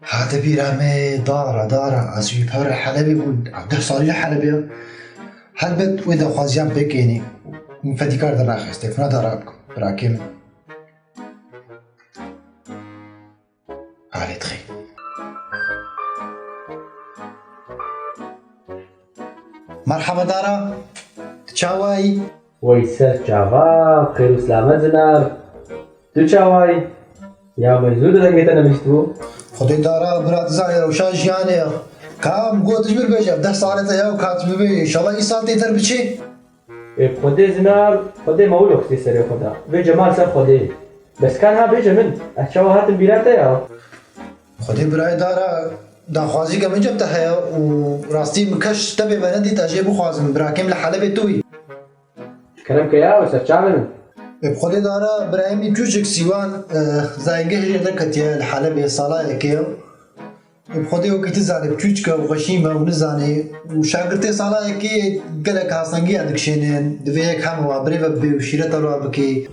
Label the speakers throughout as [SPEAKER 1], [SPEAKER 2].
[SPEAKER 1] Hate bîra me dara dara ez wî pere Helebê bûn deh salî li Helebê ye her bi wê daxwaziyan pêkênî min fedîkar dernaxist têkû neda ra bikim rakê min alê dixê. Merhaba dara tu çawa yî? Wey ser çava xêr û silamet zinar. Tu çawa yî? Ya min zû di dengê te nivîstibû. Xwedê dara bira tu zanî rewşa jiyanê ya. Ka min got ji min be ji hevdeh salê te ya û ka tu bibê înşallah îsal têder biçê. Ê xwedê zinar xwedê ma wilo xistî serê xwe da. Vê Cemal ser xwedê. Bes ka niha bêje min ez çawa hatim bîra te ya. Xwedî birayê dara daxwazîka min cep de heye û rastî min keş tevê me nedît ez jê bixwazim birakê min li Helebê tu î. Kerem ke ya we serçavê min. Bi Xwedê dara birayê min Cûcik Sîwan zayîngeh jê neketiye li Helebê salayekê ye. Bi Xwedê wekî ti zanî bi çûçke û xweşî me û nizanî û şagirtê salayekê gelek hasengiyan dikişênê divê yek hema we birêve bibê û şîreta li war bikê.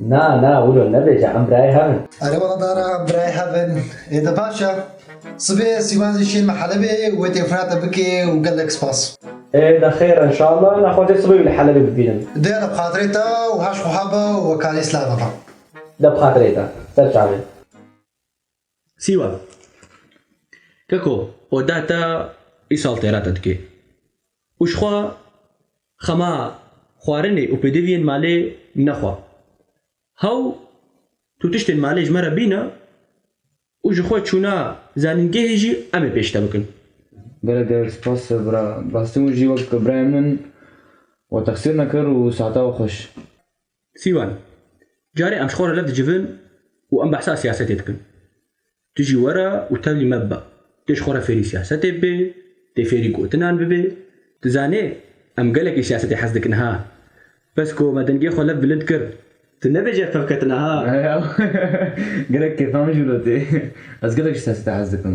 [SPEAKER 1] Na, na, wilo nebêje em birayê hev in. Erê wala dana em birayê hev in. Ê de baş e. Sibê Sîvan jî şên me Helebê wê têkura te bike û gelek spas. Ê de xêr e inşallah. Na xwezê sibê wî li Helebê bibînim. Dê de bi xatirê te û haş wiha be û wekarî silav bibe. De bi xatirê te. Ser çavê. Sîwan, Keko oda te îsal têra te dike û ji xwe xema xwarinê û pêdiviyên malê nexwe. Hew tu tiştên malê ji me re bîne û ji xwe çûna zanîngehê jî em ê pêş te bikin. Gelek gelek spas bira. Bi rastî hûn jî wek birayên min we texsîr nekir û sata we xweş. Sîwan, Carê em ji xwe re li dicivin û em behsa siyasetê dikin. Tu jî were û tevlî me bibe. Dê ji xwe re fêrî siyasetê bibê, dê fêrî gotinan bibê. Tu zanê em gelekî siyasetê hez dikin ha. Bes ku me dengê xwe lev bilind kir. Tu nebêje fevketina ha. Gelek kêfa min jî wilo tê. Ez gelek ji siyasetê hez dikim.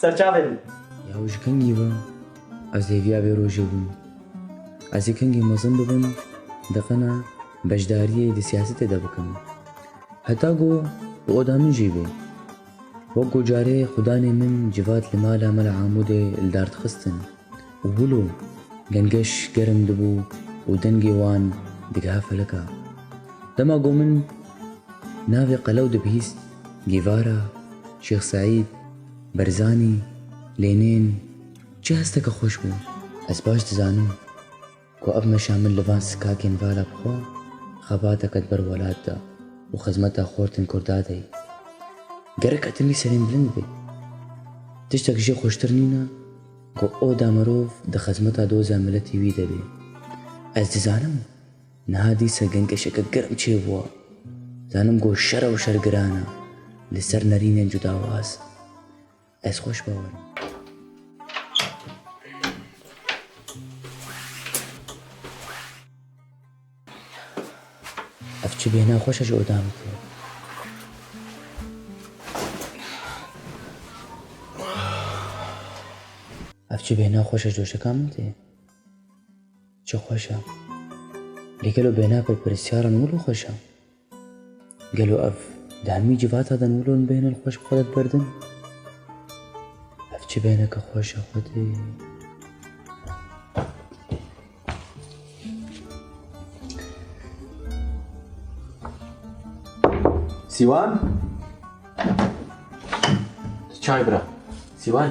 [SPEAKER 1] Ser çavê bû. Yaw ji kengî ve ez hêviya vê rojê bûm. Ez ê kengî mezin bibim, diqina beşdariyê di siyasetê de bikim. Heta ku bi oda min jî bê. Wek ku carê xudanê min civat li mala me li Amûdê li dar dixistin. û bûlo gengeş germ dibû û dengê wan digiha feleka. Dema ku min navê qelew dibihîst, Gîvara, Şêx Seîd, Berzanî, Lênên, çi hesteke xweş bû, ez baş dizanim. Ku ev meşa min li van sikagên vala bi xwe, xebateke di ber welat de û xizmeta xortên Kurda de ye. Gerek hetimî serînbilind bê. Tiştek jê xweştir nîne ku oda mirov di xizmeta doza miletî wî de bê. Ez dizanim niha dîsa gengeşeke germ çêbûwa. Dizanim ku şer ew şer giran e li ser nerînên cudawaz. Ez xweş bawer im. Ev çi bêhna xweş e ji oda min tê. Ev çi bêhna xweş e ji doşeka min tê. Çi xweş e. Lê gelo bêhna pirpirsyara min wilo xweş e. Gelo ev di hemî civata de wilo in bêhnin xweş bi xwe de birdin? Ev çi bêhneke xweş e xwedê. Sîwan? Çay bira. Sîwan?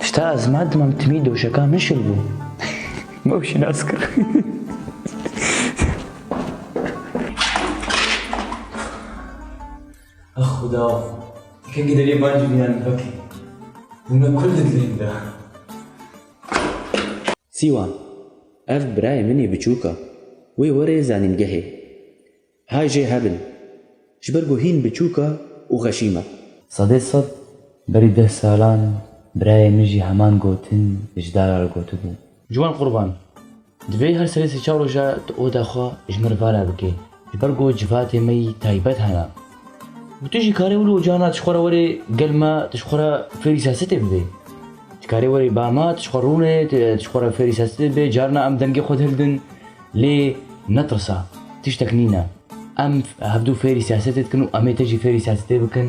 [SPEAKER 1] Tişta ez ma dimam timî doşeka min şil bû. Ma û şînas kir. Ah xuda, kengî derê ban jî bînan vekê. Hûna kul di dilê min de. Sîwan, ev birayê min ê biçûk a. Wê were zanîngehê. Hay jê hebin. Ji ber ku hîn biçûk e û xeşîm e. Sedê sed, berî deh salan birayê min jî heman gotin ji dara re gotibû. Ciwan Qurban, Divê her serê sê çar roja tu oda xwe ji min re vala bikî. Ji ber ku civatê me yî taybet hene. Û tu jî karê wilo carna tu ji xwe re werê gel me tu ji xwe re fêrî siyasetê bibê. Tu karê werê ba me tu ji xwe rûnê tu ji xwe re fêrî siyasetê bibê carna em dengê xwe dihildin. Lê netirsa, tiştek nîne. Em hevdu fêrî siyasetê dikin û em ê te jî fêrî siyasetê bikin.